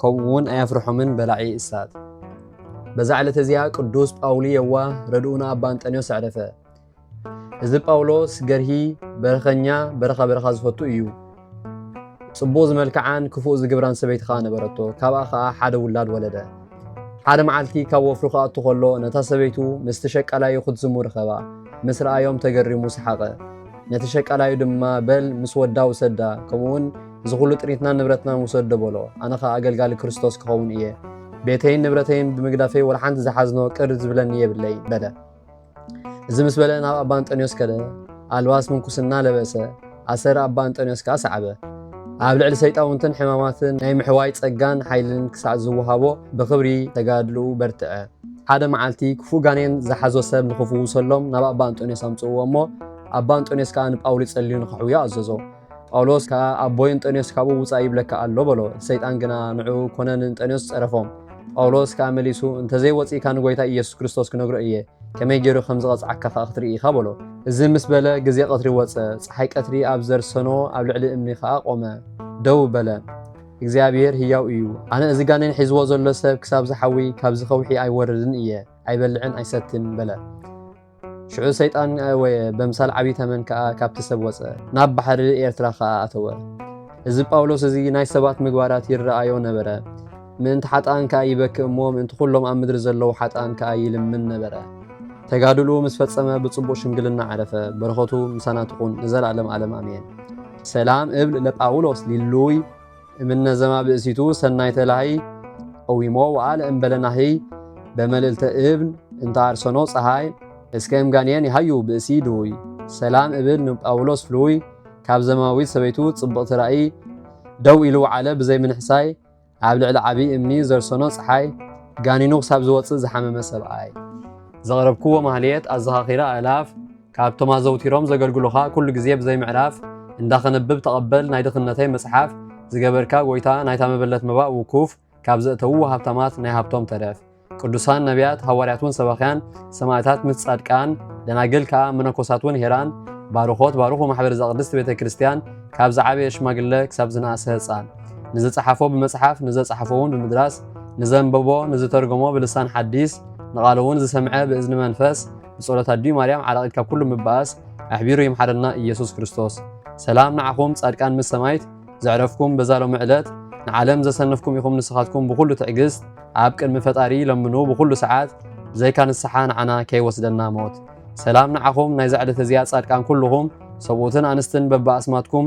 ከምኡውን ኣየፍርሖምን በላዒ እሳት። በዛ ዕለት እዚኣ ቅዱስ ጳውሊ የዋህ ረድኡና ኣባ እንጠንዮስ ኣዕረፈ። እዚ ጳውሎስ ገርሂ በረኸኛ በረኻ በረኻ ዝፈቱ እዩ። ጽቡቕ ዝመልክዓን ክፉእ ዝግብራን ሰበይቲ ኸዓ ነበረቶ ካብኣ ኸዓ ሓደ ውላድ ወለደ ሓደ መዓልቲ ካብ ወፍሩ ክኣቱ ከሎ ነታ ሰበይቱ ምስቲ ሸቃላዩ ክትዝሙ ርኸባ ምስ ረኣዮም ተገሪሙ ሰሓቐ ነቲ ሸቃላዩ ድማ በል ምስ ወዳ ውሰዳ ከምኡውን እዚ ዅሉ ጥሪትናን ንብረትናን ውሰዶ በሎ። ኣነ ኸኣ ኣገልጋሊ ክርስቶስ ክኸውን እየ። ቤተይን ንብረተይን ብምግዳፈይ ወላ ሓንቲ ዝሓዝኖ ቅር ዝብለኒ የብለይን በለ። እዚ ምስ በለ ናብ ኣባ እንጠንዮስ ከደ፣ ኣልባስ ምንኩስና ለበሰ፣ ኣሰር ኣባ እንጠንዮስ ከኣ ሰዓበ። ኣብ ልዕሊ ሰይጣውንትን ሕማማትን ናይ ምሕዋይ ጸጋን ሓይልን ክሳዕ ዝወሃቦ ብኽብሪ ተጋድልኡ በርትዐ። ሓደ መዓልቲ ክፉእ ጋኔን ዝሓዞ ሰብ ንኽፍውሰሎም ናብ ኣባ እንጠንዮስ ኣምጽእዎ እሞ፣ ኣባ እንጠንዮስ ከኣ ንጳውሊ ጸልዩ ንኸሕውዮ ኣዘዞ። ጳውሎስ ከኣ ኣቦይ እንጠንዮስ ካብኡ ውፃእ ይብለካ ኣሎ በሎ። ሰይጣን ግና ንዕኡ ኮነ ንእንጠንዮስ ጸረፎም። ጳውሎስ ከኣ መሊሱ እንተዘይወፂእካ ንጎይታ ኢየሱስ ክርስቶስ ክነግሮ እየ፣ ከመይ ገይሩ ከም ዝቐጽዓካ ከኣ ክትርኢ ኢኻ በሎ። እዚ ምስ በለ ግዜ ቐትሪ ወጸ፣ ፀሓይ ቀትሪ ኣብ ዘርሰኖ ኣብ ልዕሊ እምኒ ከኣ ቆመ፣ ደው በለ። እግዚኣብሔር ህያው እዩ፣ ኣነ እዚ ጋኔን ሒዝዎ ዘሎ ሰብ ክሳብ ዝሓዊ ካብዚ ከውሒ ኣይወርድን እየ፣ ኣይበልዕን ኣይሰትን በለ። ሽዑ ሰይጣን ኣእወየ፣ በምሳል ዓብዪ ተመን ከኣ ካብቲ ሰብ ወጸ፣ ናብ ባሕሪ ኤርትራ ኸኣ ኣተወ። እዚ ጳውሎስ እዚ ናይ ሰባት ምግባራት ይረኣዮ ነበረ፣ ምእንቲ ሓጥኣን ከኣ ይበክእ እሞ ምእንቲ ዅሎም ኣብ ምድሪ ዘለዉ ሓጥኣን ከኣ ይልምን ነበረ። ተጋድልኡ ምስ ፈጸመ ብጽቡቕ ሽምግልና ዓረፈ። በረኸቱ ምሳና ትኹን ንዘለኣለም ኣለም ኣሜን። ሰላም እብል ለጳውሎስ ሊሉይ። እምነ ዘማ ብእሲቱ ሰናይ ተላህይ ኦዊሞ ወኣለ እምበለ ናህይ በመልእልተ እብን እንተ አርሰኖ ፀሃይ እስከ እምጋንየን ይሃዩ ብእሲ ድውይ ሰላም እብል ንጳውሎስ ፍሉይ ካብ ዘማዊት ሰበይቱ ጽብቕቲ ራእይ ደው ኢሉ ወዓለ ብዘይ ምንሕሳይ ኣብ ልዕሊ ዓብዪ እምኒ ዘርሰኖ ፀሓይ ጋኒኑ ክሳብ ዝወፅእ ዝሓመመ ሰብኣይ ዘቕረብክዎ ማህሌት ኣዘኻኺረ ኣእላፍ ካብቶም ኣዘውቲሮም ዘገልግሉኻ ኩሉ ግዜ ብዘይ ምዕራፍ እንዳ ከነብብ ተቐበል ናይ ድኽነተይ መጽሓፍ ዝገበርካ ጎይታ ናይታ መበለት መባእ ውኩፍ ካብ ዘእተውዎ ሃብታማት ናይ ሃብቶም ተረፍ ቅዱሳን ነቢያት ሃዋርያት ውን ሰባኽያን ሰማእታት ምስ ጻድቃን ደናግል ከኣ መነኮሳት ውን ሄራን ባርኾት ባርኹ ማሕበር ዘቅድስት ቤተ ክርስቲያን ካብ ዝዓበየ ሽማግለ ክሳብ ዝነኣሰ ህጻን ንዝጸሓፎ ብመጽሓፍ ንዘጸሓፎ ውን ብምድራስ ንዘንበቦ ንዝተርጎሞ ብልሳን ሓዲስ ንቓሉ ውን ዝሰምዐ ብእዝኒ መንፈስ ብጸሎት ኣዲኡ ማርያም ዓራቂት ካብ ኩሉ ምባኣስ ኣሕቢሩ ይምሓረና ኢየሱስ ክርስቶስ። ሰላም ንዓኹም ጻድቃን ምስ ሰማይት ዘዕረፍኩም በዛ ሎሚ ዕለት ንዓለም ዘሰነፍኩም ኢኹም ንስኻትኩም ብኹሉ ትዕግስት ኣብ ቅድሚ ፈጣሪ ለምኑ ብኹሉ ሰዓት ብዘይካ ንስሓ ንዓና ከይወስደና ሞት። ሰላም ንዓኹም ናይዛ ዕለት እዚኣ ጻድቃን ኩልኹም ሰብኡትን ኣንስትን በብኣስማትኩም